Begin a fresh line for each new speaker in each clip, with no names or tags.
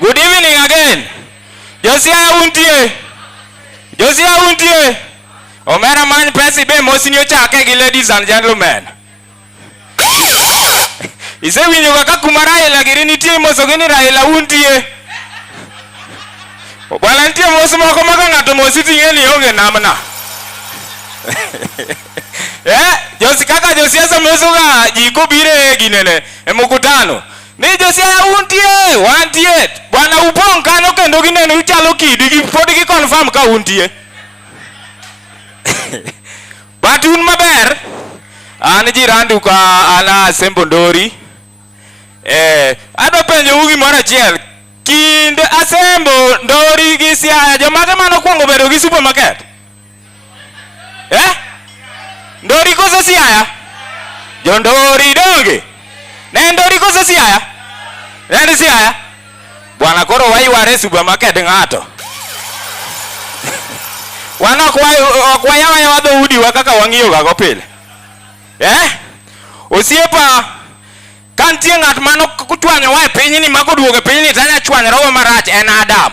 Good evening again. Josia untie. Josia untie. Omera man pesi be mosini ochake gi ladies and gentlemen. Isewinjo kaka kuma Raila giri nitie moso gini Raila untie. Bwana nitie mos moko maka ng'ato mosi ting'e ni onge namna. Eh, Josi kaka Josia samosoga jiko bire ginene e mkutano. ni josiaya untie wantie bwana upong' kanyo kendo gineno uchalo kidi gi pod gi confirm ka untie but un maber an jirandu ka an asembo ndori eh, adwa penjou gimoro achiel kind asembo ndori gi siaya jomage mane okwongo bedo gi supermarket eh? Ndori koso Siaya? Jondori donge ne Ndori koso Siaya? Ne Siaya? Bwana koro wayware supermarket ng'ato wan ok wayawa yawa dhoudiwa kaka wang'iyogago pile eh? osiepa ka nitie ng'at mano kuchwanyowa e pinyni ma koduogo e pinyni tanya chwanyrogo marach en Adam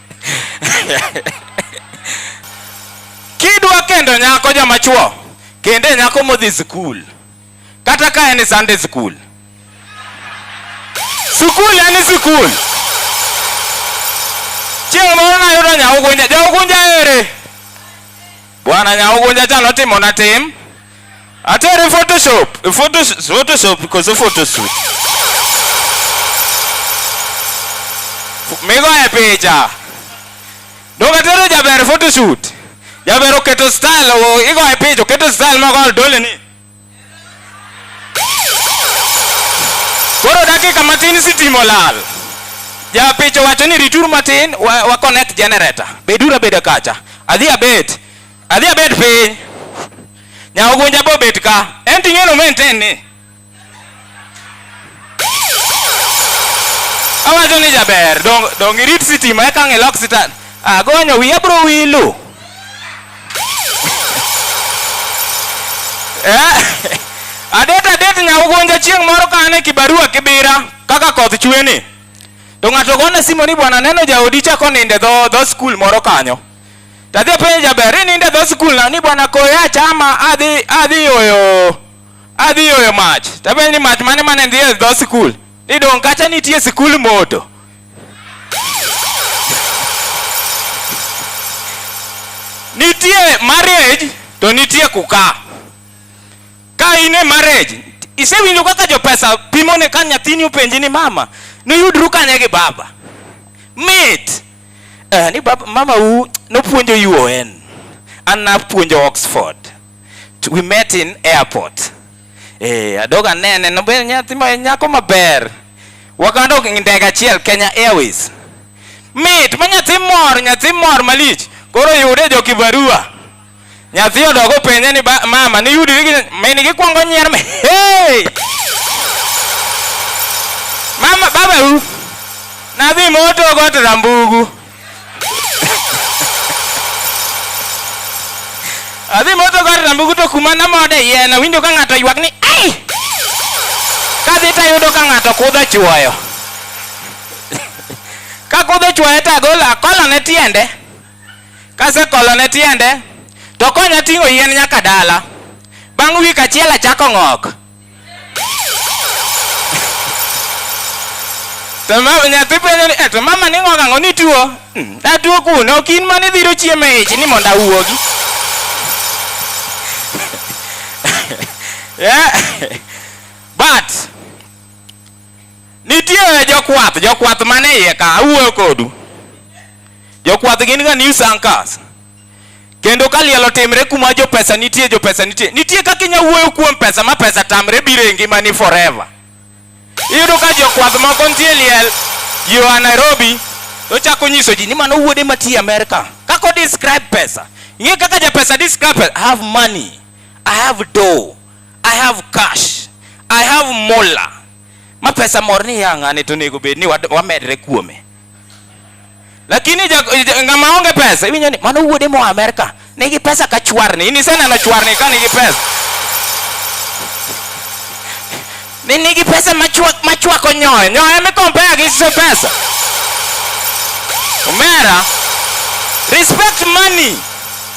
kidwa kendo nyako joma chuo kende nyako modhi skul kata ka en Sunday skul skul en skul chieng' moro nayudo nyaugunja jaugunja ere bwana nyaugunja cha notimona tim Atari Photoshop, Photoshop, Photoshop because of Photoshop. Migo e picha. Doga tero jaber photoshoot. Jaber oketo style, o- igo e picha, oketo style ma kol dole ni. Koro dakika matin sitimo lal. Ja picha wacho ni ritur matin wa, wa connect generator. Bedura beda kacha. Adhi abet. Adhi abet piny. Nyawo gunja bo bet ka. En ting'e no maintain ni. Awacho ni jaber, dong dong irit sitima eka ng'ilok sitan. Agonyo wiya bro wilu. Eh, adet adet nyawo gunja chieng' moro ka an e kibarua kibira kaka koth chwe ni. To ng'ato gona simu ni bwana neno jaodi chako ninde dho dho skul moro kanyo. Tadhi openjo jaber, inindo e dho skul na ni bwana koyo achama adhi adhi yoyo adhi yoyo mach. Tapenjo ni mach mane mane ndhi e dho skul? Ni dong' kacha nitie skul moto. Nitie marriage to nitie kukaa. Ka in e marriage, isewinjo kaka jopesa pimone ka nyathini openji ni mama, niyudru kanye gi baba? Mit! eh, ni bab, mama u nopuonjo UON an napuonjo Oxford to we met in airport eh, adoga nene nobe nyathi ma nyako maber wakanda ok ndege achiel Kenya Airways mit ma nyathi mor nyathi mor malich koro yude jo kibarua Nyathi odog openje ni mama ni yudi gi min gi kwongo nyier me. Hey! Mama baba u. Na dhi moto got rambugu. Adhi moto got rambugu to kuma na mode yena winjo ka ng'ato ywak ni ai. Ka dhi ta yudo ka ng'ato kudha chuoyo. Ka kudha chuoyo ta golo akola ne tiende. Kasekolone tiende to konya ting'o yien nyaka dala. Bang' wik achiel achako ng'ok. To mama nyathi penjo ni, "Eh, to mama ni ng'ok ang'o ni tuo? "Mm, Atuo kuno, ok in mane idhiro chiemo e ich ni mondo awuogi. Yeah. But nitie jokwath, jokwath mane iye ka awuoyo kodu. Jokwath gin ga news anchors. Kendo ka liel otimre kuma jo pesa nitie, jo pesa nitie. Nitie kaka inya wuoyo kuom pesa ma pesa tamre biro e ngimani forever. Iyudo ka jokwath moko nitie liel yo a Nairobi to chako nyiso ji ni mano wuode matiye Amerika. Kaka o describe pesa. Ng'e kaka ja pesa describe pesa. I have money. I have dough. I have cash. I have mola. Ma pesa mor ni yang'ane to onego bed ni wamedre kuome. lakini ngama onge pesa iwinjo ni mano wuode moa Amerika nigi pesa ka chwarni in iseneno chwarni ka nigi pesa ni nigi pesa machwako nyoyo nyoyo mikompea gi se pesa omera respect money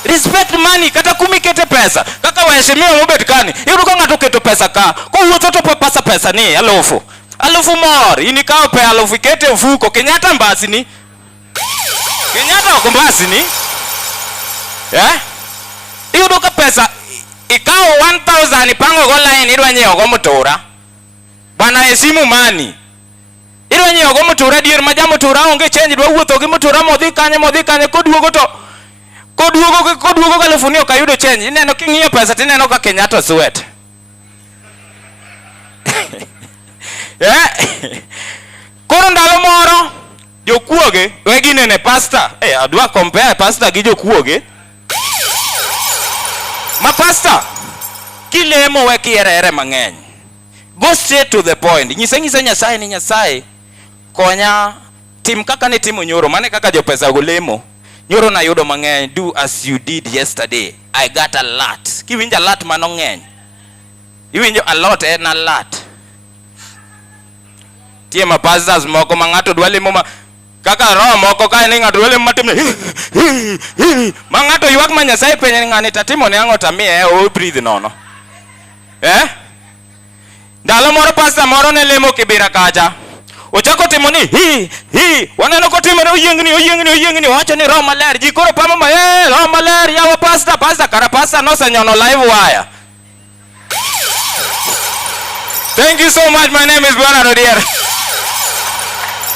respect money kata kumi kete pesa kaka waheshimiwa mobet kani iyudo ka ng'ato oketo pesa ka kowuotho to pasa pesa ni alufu Alufu mor, in ikawo pe alufu ikete mfuko, Kenyatta mbasini. Kenyatta ok mbasini. Eh? Iyudo ka pesa ikawo 1000 ipango go line idwa nyiewo go mutura. Bwana esimu mani. Idwa nyiewo go mutura dier ma jamutura onge change dwa wuotho gi mutura modhi kanye modhi kanye koduogo to koduogo koduogo alufu ni ok ayudo change. Ineno king'iyo pesa tineno ka Kenyatta suet. yeah. Koro ndalo moro jokuoge we ginene pasta hey, eh, adwa compare pasta gi jokuoge ma pasta kilemo we kierere mang'eny go straight to the point nyise nyise nyasaye ni nyasaye konya Tim kaka ne timo nyoro, mane kaka jopesago lemo. Nyoro nayudo mang'eny, do as you did yesterday. I got a lot. Kiwinjo a lot mano ng'eny. Iwinjo a lot en a lot. Tie ma pastors moko ma ng'ato dwa lemo ma kaka roho moko ka ni ng'ato dwa lemo matim ma ng'ato ywak ma Nyasaye penye ng'ani tatimo ne ang'o tamiye o breathe nono. Eh? Ndalo moro pasta moro ne lemo Kibira kacha. Ochako timo ni hi hi waneno kotimore oyiengni oyiengni oyiengni wacho ni roho maler ji koro pamo ma eh roho maler yawa pasta pasta kara pasta nosenyono live wire. Thank you so much. My name is Bernard Odier.